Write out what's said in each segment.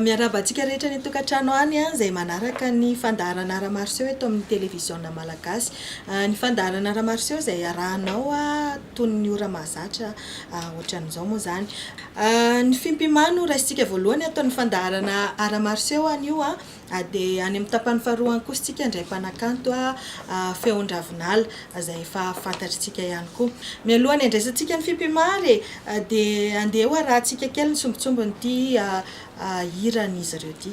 Miarahaba antsika rehetra any an-tokantrano any izay manaraka ny fandaharana Art Martiaux eto amin'ny Televiziona Malagasy. Ny fandaharana Art Martiaux izay iarahanao toy ny ora mahazatra ohatran'izao moa izany. Ny fimpimano no raisintsika voalohany ato amin'ny fandaharana Art Martiaux anio Dia any amin'ny tapany faharoa any kosa isika indray mpanakanto Feon-dRavinala izay efa fantatr'isika ihany koa. Mialoha ny handraisantsika ny Fipimary e, dia andeha hoarahantsika kely ny sombintsombin'ity hiran'izy ireo ity.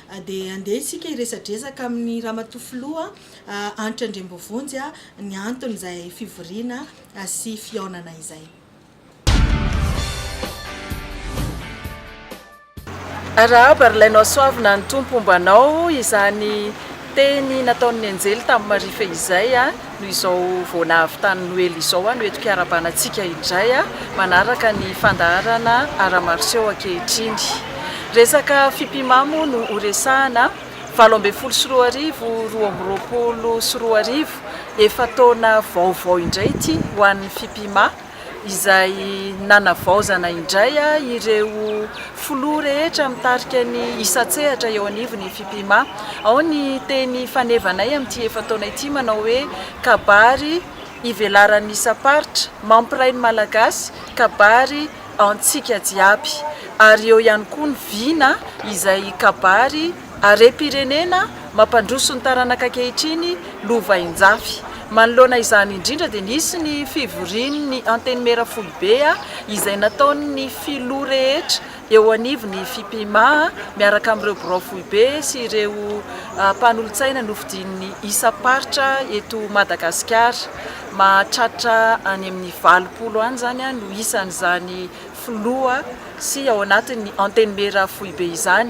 Dia handeha isika hiresadresaka amin'ny Ramatoa Filoha Hanitra Andriambovonjy ny anton'izay fivoriana sy fihaonana izay. Arahaba ry lainao soavina ny Tompo homba anao izany teny nataon'ny Anjely tamin'i Maria fehizay a! Noho izao vao nahavitany noely izao aho no eto mpiara-bana antsika indray manaraka ny fandaharana Aramarseo ankehitriny. Resaka Fipima moa no ho resahana, valo ambin'ny folo sy roa arivo, roa amby roapolo sy roa arivo, efa-taona vaovao indray ity ho an'ny Fipima. izay nanavaozana indray ireo filoha rehetra mitarika ny isan-tsehatra eo anivon'ny Fipima. Ao ny teny fanevanay amin'ity efa-taona ity manao hoe kabary ivelaran'ny isam-paritra, mampiray ny Malagasy, kabary antsika jiaby. Ary eo ihany koa ny vina izay kabary. Harem-pirenena mampandroso ny taranaka ankehitriny lovainjafy. Manoloana izany indrindra dia nisy ny fivorian'ny Antenimiera foibe izay nataon'ny Filoha rehetra eo anivon'ny Fipima miaraka amin'ireo birao foibe sy ireo mpanolotsaina nofidian'ny isam-paritra eto Madagasikara. Mahatratra any amin'ny valopolo any izany no isan'izany Filoha sy ao anatin'ny Antenimiera foibe izany.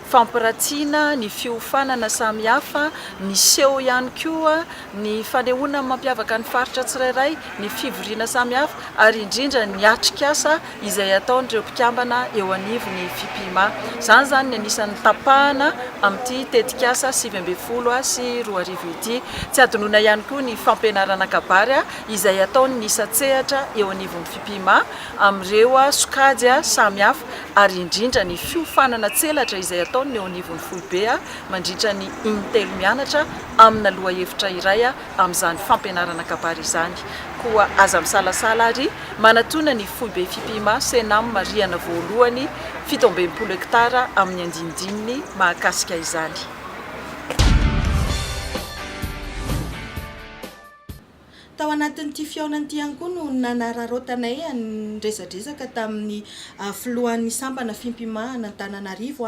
Fampiratina ny fiofanana samihafa, miseho ihany koa ny fanehoana ny mampiavaka ny faritra tsirairay, ny fivoriana samihafa ary indrindra ny atrikasa izay ataon'ireo mpikambana eo anivon'ny Fipima. Izany izany ny anisan'ny tapahana amin'ity tetikasa sivy ambin'ny folo sy roa arivo ity. Tsy hadinoina ihany koa ny fampianarana kabary izay ataon'ny isan-tsehatra eo anivon'ny Fipima amin'ireo sokajy samihafa. ary indrindra ny fiofanana tselatra izay ataon'ny eo anivon'ny foibe mandritra ny in-telo mianatra amina lohahevitra iray amin'izany fampianarana kabary izany. Koa aza misalasala ary manatona ny foibe Fipima Cenam rihana voalohany fito amby enimpolo hektara amin'ny andinindininy mahakasika izany. Tao anatin'ity fihaonana ity ihany koa no nanararaotanay niresadresaka tamin'ny filohan'ny sampana fimpimahana Antananarivo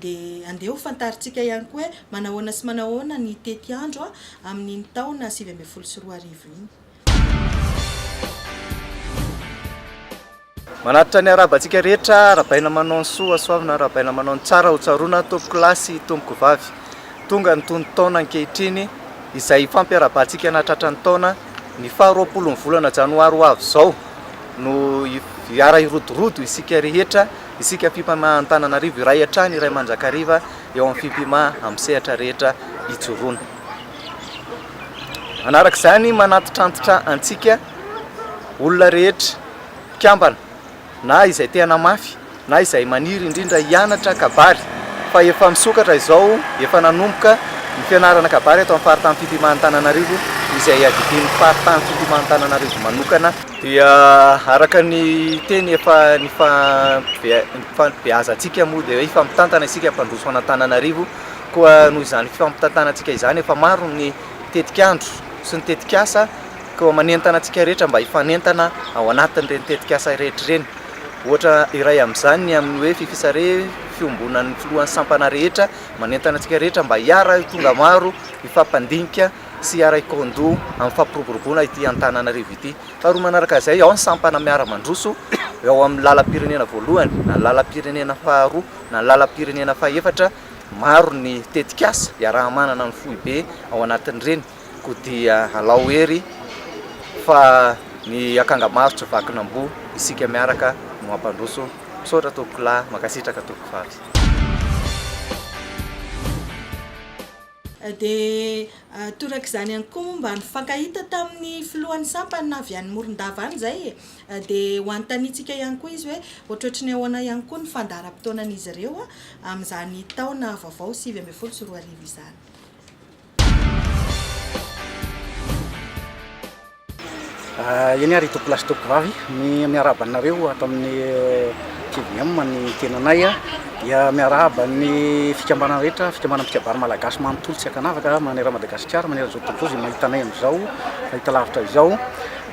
dia andeha ho fantarintsika ihany koa hoe manahoana sy manahoana ny tetiandro amin'iny taona sivy ambin'ny folo sy roa arivo iny. Manatitra ny harabantsika rehetra arabaina manao ny soa soavina arabaina manao ny tsara ho tsaroana tompoko lahy sy tompoko vavy tonga ny tonon-taona ankehitriny izay hifampiarabantsika nahatratra ny taona ny faha roapolo ny volana janoary ho avy izao no hiara hirodorodo isika rehetra isika fimpama Antananarivo iray hatrany iray manjakariva eo amin'ny fimpima amin'ny sehatra rehetra ijoroana manaraka izany manantitrantitra antsika olona rehetra mpikambana na izay te-hana mafy na izay maniry indrindra hianatra kabary fa efa misokatra izao efa nanomboka ny fianarana kabary eto amin'ny faritany Fitimantananarivo izay iadidian'ny faritany Fitimantananarivo manokana dia araka ny teny efa nifanbeazantsika moa dia hoe hifampitantana isika hampandroso an'Antananarivo koa noho izany fifampitantanantsika izany efa maro ny tetik'andro sy ny tetik'asa Koa manentana antsika rehetra mba hifanentana ao anatin'ireny tetikasa irehetra ireny. Ohatra iray amin'izany ny amin'ny hoe Fifisare, fiombonan'ny filohan'ny sampana rehetra. Manentana antsika rehetra mba hiara-tonga maro, hifampandinika sy hiara-hikandoha amin'ny fampiroboroboana ity Antananarivo ity. Faharoa manaraka izay, ao ny sampana miara-mandroso eo amin'ny lalam-pirenena voalohany na ny lalam-pirenena faharoa na ny lalam-pirenena fahefatra. Maro ny tetikasa iaraha-manana ny foibe ao anatin'ireny. Koa dia alao hery fa ny akanga maro tsy vakin'amboa isika miaraka no hampandroso misaotra tompoko lahy mankasitraka tompoko faritra. Dia torak'izany ihany koa moa mba nifankahita tamin'ny filohan'ny sampana avy any Morondava any izay e! Dia ho anontaniantsika ihany koa izy hoe ohatrohatry ny ahoana ihany koa ny fandaharam-potoanan'izy ireo amin'izany taona vaovao sivy ambin'ny folo sy roa arivo izany. Ah, eny ary tompolahy sy tompovavy, ny miarahaba anareo ato amin'ny eh, TVM ny tenanay a. Dia miarahaba ny fikambanana rehetra, fikambanana mpikabary malagasy manontolo tsy ankanavaka manerana Madagasikara, manerana izao tontolo izao izay mahita anay amin'izao, mahita lavitra izao.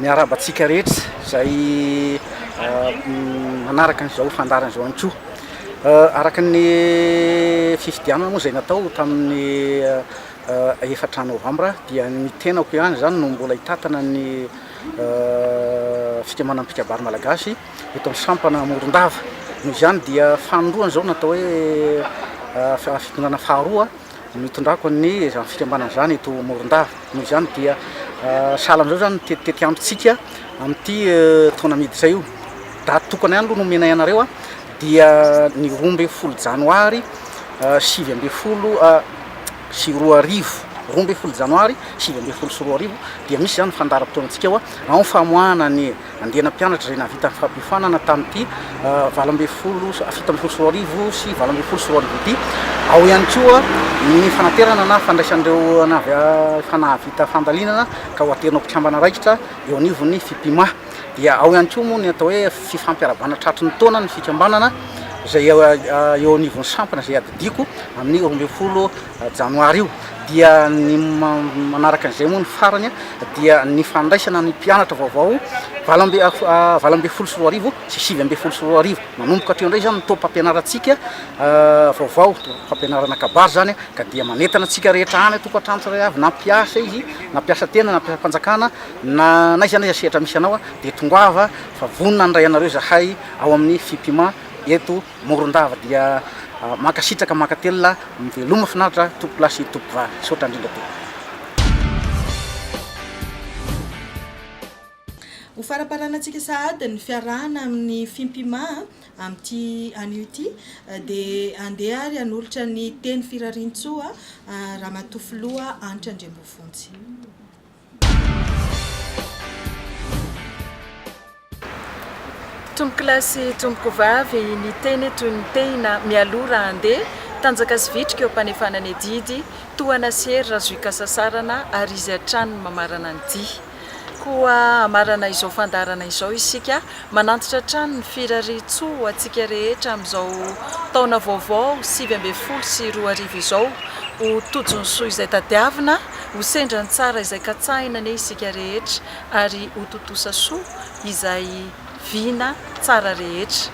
Miarahaba antsika rehetra izay ah, m- manaraka an'izao fandaharana izao ihany koa. Araka ny fifidianana moa izay natao tamin'ny efatra novambra dia ny tenako ihany izany no mbola hitatana ny fikambanan'ny mpikabary malagasy eto amin'ny sampana Morondava. Noho izany dia fanindroany izao natao hoe fitondrana faharoa. Nitondrako ny izany fikambanana izany eto Morondava. Noho izany dia sahala amin'izao izany ny tetiambotsika amin'ity taona miditra io. Daty tokana ihany aloha no omenay anareo a, dia ny roa ambin'ny folo janoary sivy ambin'ny folo sy roa arivo, roa ambin'ny folo janoary sivy ambin'ny folo sy roa arivo dia misy izany fandaharam-potoanantsika ao amin'ny famoahana ny Andiana mpianatra izay nahavita ny fampiofanana tamin'ity valo ambin'ny folo sy fito ambin'ny folo sy roa arivo sy valo ambin'ny folo sy roa arivo ity. Ao ihany koa ny fanaterana na fandraisan'ireo na avy efa nahavita fandalinana ka ho aterina ho mpikambana raikitra eo anivon'ny Fipima. Dia ao ihany koa moa ny atao hoe fifampiarabana tratry ny taona ny fikambanana izay eo anivon'ny sampana izay adidiako amin'ny roa ambin'ny folo Janoary io dia ny manaraka an'izay moa ny farany dia ny fandraisana ny mpianatra vaovao valo amby valo ambin'ny folo sy roa arivo sy sivy ambin'ny folo sy roa arivo. Manomboka hatreo indray izany ny taom-pampianarantsika vaovao, fampianarana kabary izany ka dia manentana antsika rehetra any an-tokantrano tsirairay avy na mpiasa izy na mpiasa tena na mpiasam-panjakana na n'aiza n'aiza sehatra misy anao dia tongava fa vonona handray anareo izahay ao amin'ny Fipima eto Morondava dia mankasitraka mankatelina miveloma finaritra tompokolahy sy tompokovavy misaotra indrindra tompoko. Ho faraparanantsika sahady ny fiarahana amin'ny Fimpima amin'ity anio ity dia handeha ary hanolotra ny teny firariantsoa Ramatoa Filoha Hanitra Andriambovonjy. Tompokolahy sy tompokovavy, niteny toy ny tehina mialoha raha handeha, tanjaka sy vitrika eo am-panefana ny adidy, tohana sy hery raha zo hikasasarana, ary izy hatrany no mamarana ny dihy. Koa hamarana izao fandaharana izao isika, Manantitra hatrany ny firarian-tsoa ho antsika rehetra amin'izao taona vaovao sivy ambin'ny folo sy roa arivo izao. Ho tojo ny soa izay tadiavina, ho sendra ny tsara izay katsahina anie isika rehetra ary ho tontosa soa izay vina tsara rehetra.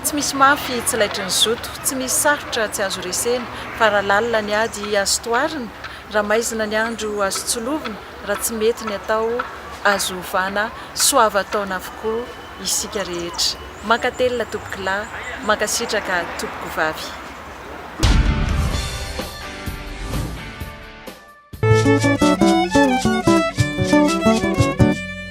Tsy misy mafy tsy laitry ny zoto, tsy misy sarotra tsy azo resena fa raha lalina ny ady azo toharina, raha maizina ny andro azo tsilovina, Raha tsy mety ny atao, azo ovana, soavan-taona avokoa isika rehetra. Mankatelina tompokolahy, mankasitraka tompokovavy.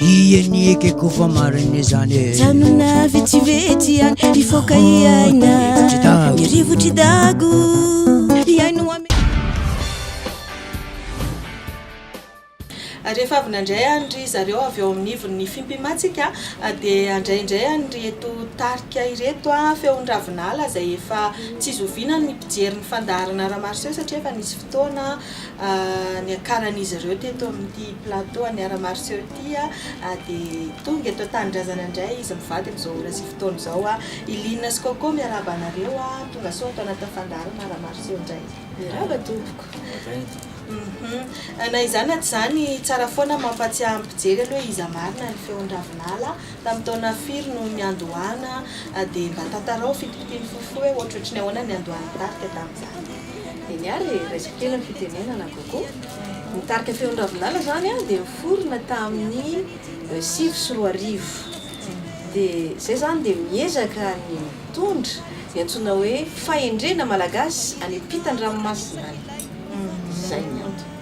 Ie ny ekeko fa marina izany e Janona vetsivetsy ihany hifoka hiaina Ny rivotry dago hiaino ame Rehefa avy nandray any ry zareo avy ao amin'ny ivon'ny Fimpimantsika dia handray indray an'ireto tarika ireto, Feon'ny Ravinala izay efa tsy zoviana ny mpijery ny fandaharana Ramaroson satria efa nisy fotoana Niakaran'izy ireo teto amin'ity plateau an'i Aramariseo ity dia tonga eto an-tanindrazana indray izy mivady amin'izao ora sy fotoana izao. I Lina sy Coco miarahaba anareo, tongasoa ato anatin'ny fandaharana Aramariseo indray. Miarahaba tompoko. Na izany na tsy izany, tsara foana mampahatsiahy ny mpijery aloha iza marina ny feon'i Ravinala, tamin'ny taona firy no niandohana, dia mba tantarao fitipitiany fohifohy hoe ohatrohatry ny ahoana ny niandohan'ny tarika tamin'izany. Eny ary e, raiso kely ny fitenenana Gogo. Ny tarika Feon-dRavinala izany dia niforona tamin'ny sivy sy roa arivo. Dia izay izany dia miezaka ny mitondra ny antsoina hoe fahendrena malagasy any am-pitan-dranomasina any. Izay ny antony.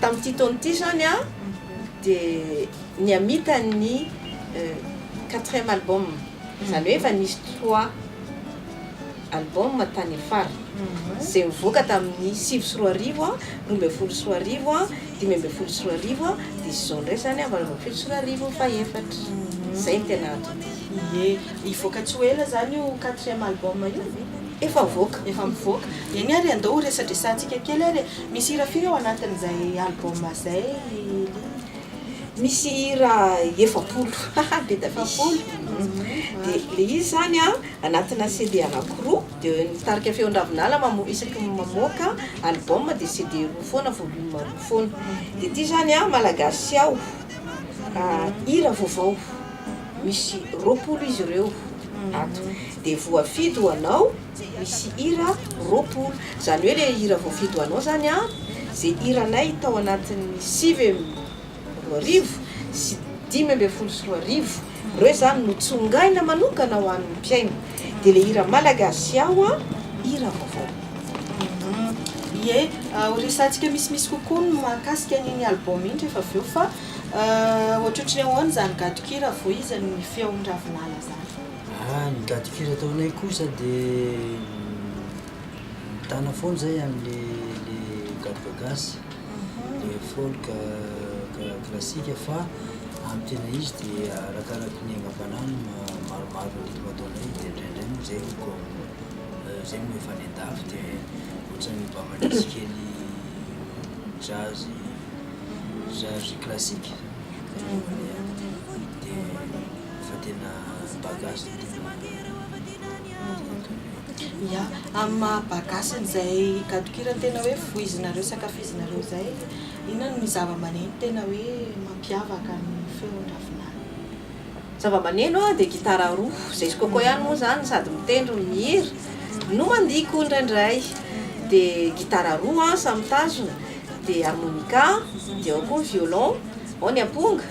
Tamin'ity taona ity izany dia nihamita ny quatrième album, izany hoe efa nisy trois album tany afara, izay nivoaka tamin'ny sivy sy roa arivo, roa ambin'ny folo sy roa arivo, dimy ambin'ny folo sy roa arivo, dia izao indray izany valo ambin'ny folo sy roa arivo fahefatra. Izay no tena ato ity. Ie, hivoaka tsy ho ela izany io quatrième album io? Efa avoaka. Efa mivoaka. Eny ary andao ho resadresantsika kely ary e. Misy hira firy ao anatin'izay album izay i Lily? Misy hira efapolo. Haha be da be. Efapolo? Dia ilay izy izany anatina CD anankiroa. Dia ny tarika Feon-dRavinala mamoa, isaky ny mamoaka album dia CD roa foana, volume roa foana. Dia ity izany Malagasy aho, hira vaovao. Misy roapolo izy ireo ato. de voafidy ho anao misy hira roapolo zany hoe le hira voafidy ho anao zany a ze hiranay tao anatin'ny sivy amby roa arivo sy dimy ambin'ny folo sy roa arivo reo zany no tsongaina manokana ho an'ny mpihaino de le hira Malagasy aho a hira vaovao. Ie, ho resahantsika misimisy kokoa ny mahakasika an'iny album iny rehefa avy eo fa ohatrohatry ny ahoana izany gadon-kira voizan'ny feon'ny ravinala izany? Ah ny daty firy ataonay kosa de mitana foana zay amle le gaboka gasy le folk classique fa amy tena izy de arakaraky ny angavanany maromaro ny ritme ataonay de ndraindray moa zay ko zay no efa any andafy de ohatrany mba mandrisy kely jazz jazz classique fanaovanay azy de. fa tena mba gasy no tena mba ya amin'ny maha mba gasy an'izay gadon-kira tena hoe voizinareo sy ankafizinareo izay inona no zava-maneno tena hoe mampiavaka ny feon-dravinala? Zava-maneno dia gitara roa, izay sokoko ihany moa izany sady mitendry no mihira no mandihy koa indraindray, dia gitara roa samy mitazona, dia harmonica, dia ao koa ny violon, ao ny amponga,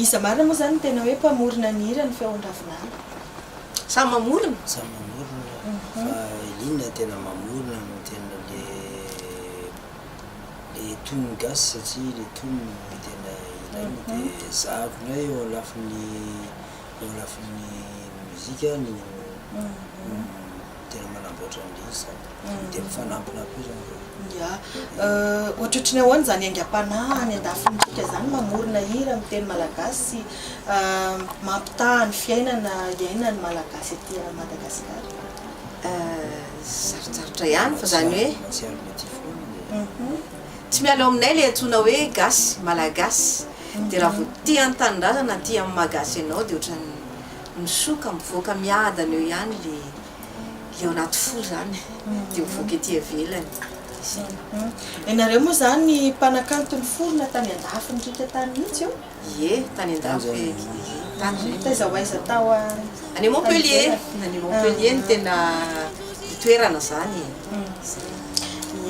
Iza marina moa izany no tena hoe mpamorona ny hira ny feon-dravinala? Samy mamorona. Samy mamorona fa inona no tena mamorona no tena le le tonony gasy satria le tonony no tena ilaina dia ezahako indray eo lafiny eo lafiny mozika ny tena manamboatra an'ilay izy izany dia mifanampina koa izany izany. Ya, ohatrohatry ny ahoana izany aingam-panahy any an-dafintsika izany mamorona hira amin'ny teny malagasy sy mampitaha ny fiainana iainan'ny Malagasy ety Madagasikara? Sarotsarotra ihany fa izany hoe. Tsy ary mety foana ilay. Tsy miala ao aminay ilay antsoina hoe gasy, malagasy. Dia raha vao tia ny tanindrazana, tia ny maha gasy anao dia ohatran'ny Misoa ka mivoaka miadana eo ihany le le ao anaty fo zany de mivoaka ety ivelany de zay. Ianareo moa zany mpanakanto niforona tany andafy nirika tany mihitsy io? Ie, tany andafy e, ie, tany zay. Taiza ho aiza tao a? Any Montpellier, any Montpellier no tena itoerana zany e, zay.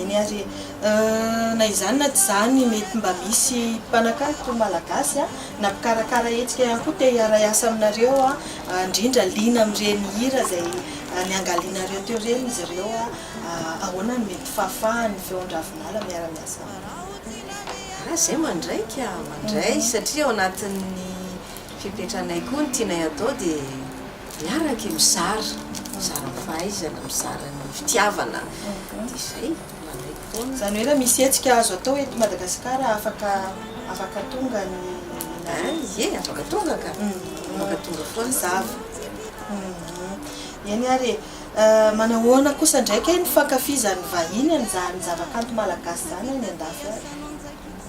Eny ary e, na izany na tsy izany mety mba misy mpanakanto malagasy Na mpikarakara hetsika ihany koa te hiara hiasa aminareo a, indrindra liana amin'ireny hira izay niangalianareo teo ireny izy ireo a, ahoana no mety fahafahan'ny Feon-dRavinala miara miasa aminareo? Raha izay mandraiky a, mandray satria ao anatin'ny fepetranay koa ny tianay atao dia miaraka e, mizara, mizara ny fahaizana, mizara ny fitiavana, dia izay. Izany hoe raha misy hetsika azo atao eto Madagasikara afaka afaka tonga ny nareo? Ye, afaka tonga ka! Afaka tonga foana izany. Eny ary e! Manahoana kosa indray kay ny fankafizan'ny vahiny an'izany zavakanto malagasy izany any andafy any?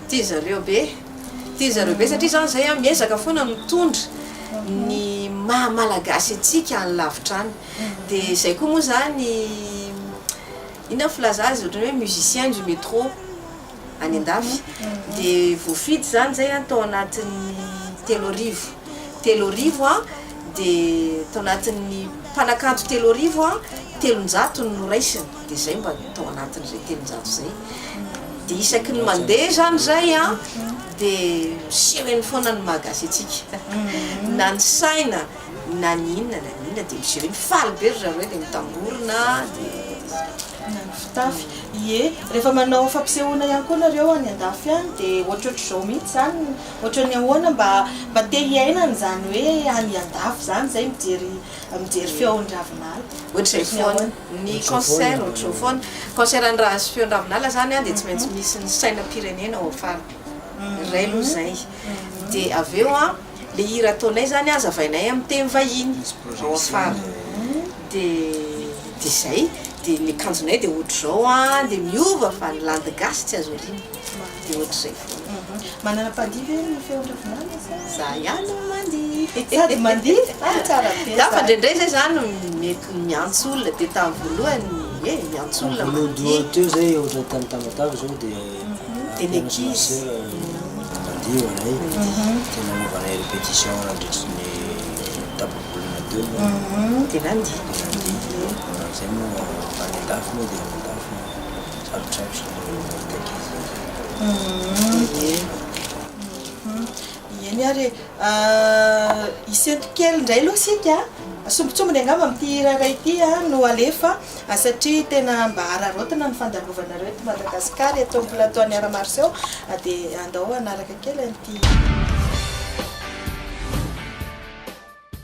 Tia zareo be! Tia zareo be satria izaho izay miezaka foana mitondra ny maha malagasy antsika any lavitra any. Dia izay koa moa izany Inona ny filaza azy ohatrany hoe musicien du metro any andafy de voafidy zany zay an tao anatin'ny telo arivo telo arivo an de tao anatin'ny mpanakanto telo arivo an telonjato no noraisiny de zay mba tao anatin'izay telonjato zay de isaky ny mandeha zany zay an de miseho eny foana ny maha gasy antsika na ny saina na ny inona na ny inona dia miseho eny, faly be ry zareo dia mitangorona dia. Na ny fitafy, ie rehefa manao fampisehoana ihany koa nareo any andafy any dia ohatrohatr'izao mihitsy izany, ohatran'ny ahoana mba mba te hiainana izany hoe any andafy izany izay mijery mijery feon-dRavinala, ohatr'izay foana, ny concert ohatr'izao foana, concert an'i ra sy feon-dRavinala izany an dia tsy maintsy misy ny sainam-pirenena ao am-faritany, iray aloha izay, dia avy eo an. le hira ataonay zany azavainay amin'ny teny vahiny Rose Fara de zay de ny akanjonay de otrzao an de miova fa ny landy gasy tsy azo ariana de otrzay foana Manana mpandihy ve ny feon-dravinala sa za ihany no mandihy Sady mandihy? Ah tsara be Za fa ndraindray zay za no mety miantso olona de tamin'ny voalohany eh miantso olona mandihy Voalohany teo zay ohatra tany Tamatave zao de Tena ankizy mandeha ho anay, dia nanaovana anay répétition nandritry ny tapa-bolana teo, dia nandihy, manao izay moa any an-dafy moa dia any an-dafy sarotrarotra ny mamoaka ankizy an'izay. Eny ary e! Isento kely indray aloha isika a! Sombintsombiny angamba amin'ity hira iray ity no alefa satria tena mba araraotina ny fandalovanareo eto Madagasikara, eto amin'ny plateau an'i Art Marseaux dia andao hanaraka kely an'ity.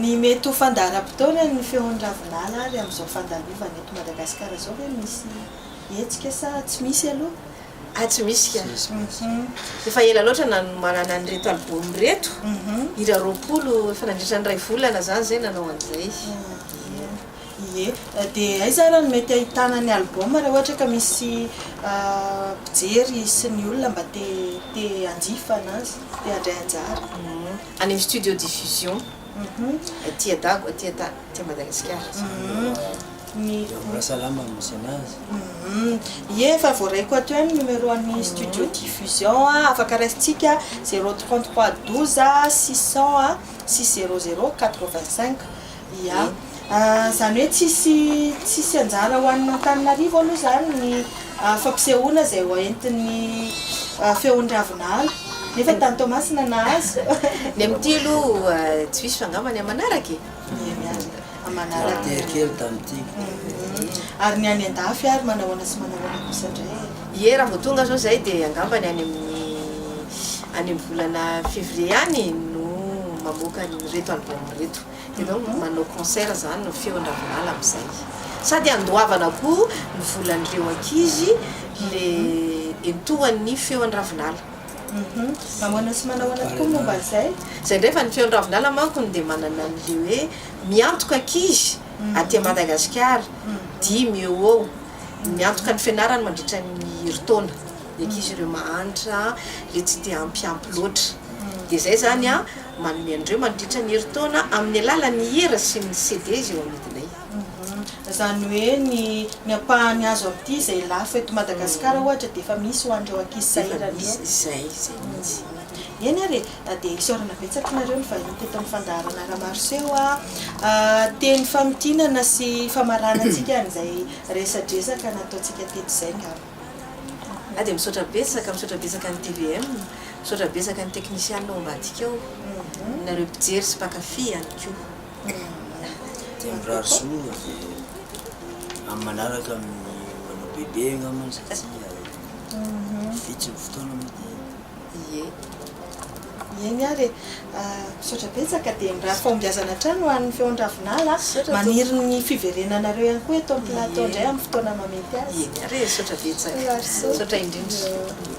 Ny mety ho fandaharam-potoanan'ny feon'i Ravinala ary amin'izao fandalovana eto Madagasikara izao ve misy hetsika sa tsy misy aloha? Ah tsy misy ka! Efa ela loatra nanomanana an'ireto album ireto, hira roapolo, efa nandritra ny iray volana zany zay nanao an'izay. Ie, dia aiza ary no mety ahitana ny album raha ohatra ka misy mpijery sy ny olona mba te te hanjifa anazy, te handray anjara? Any amin'ny studio diffusion aty a Dago aty a aty Madagasikara. Mbola salama ny misy anazy. Ie efa voaraiko ato ihany numéro an'ny studio diffusion afaka raisintsika zéro trente trois douze six cent sy zéro zéro quatre vingt cinq. Ia. Izany hoe tsisy tsisy anjara ho an'Antananarivo aloha izany ny fampisehoana izay hoentin'ny Feondravinala. Nefa tany Toamasina nahazo. Ny amin'ity aloha tsy misy fa angamba ny aman'araka e? Ie, miandry aman'araka. Very kely tamin'ity. Ary ny any an-dafy ary manahoana sy manahoana kosa indray e? Ie, raha vao tonga izao izahay dia angamba ny any amin'ny any amin'ny volana février any no mamoaka an'ireto album ireto. Ianao no manao concert zany no feon ravinala amzay sady andoavana koa ny volanreo ankizy le entohan ny feon ravinala. Hum mamoana sy manahoana tokoa ny momba an'izay? Zay ndray fa ny feon ravinala manko no dia manana an'le hoe miantoka ankizy aty Madagasikara dimy eo ho eo miantoka ny fianarany mandritra ny herintaona ny ankizy ireo mahantra le tsy te hampiampy loatra dia zay zany an. Manome an'ireo mandritra ny herintaona amin'ny alalan'ny hira sy ny CDs eo amidinay. Izany hoe ny ny ampahany azo amin'ity izay lafo eto Madagasikara ohatra dia efa misy ho an'ireo ankizy sahirana io. Efa misy izay, izay mihitsy. Eny ary e, dia isaorana betsaka anareo nivahiny teto amin'ny fandaharana Ramaroseho a! Teny famintinana sy famaranantsika an'izay resadresaka nataontsika teto izay angamba. Ah dia misaotra betsaka, misaotra betsaka ny tvm, misaotra betsaka ny teknisianina ao ambadika ao, nareo mpijery sy mpakafy ihany koa. Mirary soa dia amin'ny manaraka amin'ny manao bebe angamba satria vitsy ny fotoana moa dia. Ie. Mihaino ary e. Misaotra betsaka dia mirary fahombiazana hatrany ho an'ny Feon-dRavinala a. Maniry ny fiverenanareo ihany koa eto amin'ny plateau indray amin'ny fotoana mahamety azy. Ieny ary e. Misaotra betsaka. Misaotra indrindra.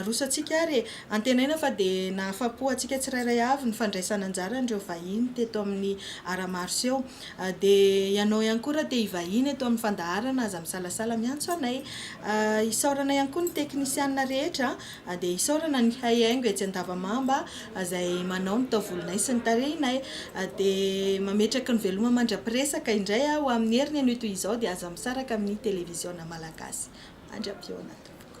Arosantsika ary e! Antenaina fa dia nahafa-po antsika tsirairay avy ny fandraisana anjara an'ireo vahiny teto amin'ny Art Martiaux. Dia ianao ihany koa raha te hivahiny eto amin'ny fandaharana aza misalasala miantso anay. Isaorana ihany koa ny teknisiana rehetra, dia isaorana ny mpihay haingo etsy Andavamamba izay manao ny taovolonay sy ny tarehinay. Dia mametraka ny veloma mandra-piresaka indray aho amin'ny heriny anio toy izao dia aza misaraka amin'ny televiziona malagasy. Mandra-pihaona tompoko.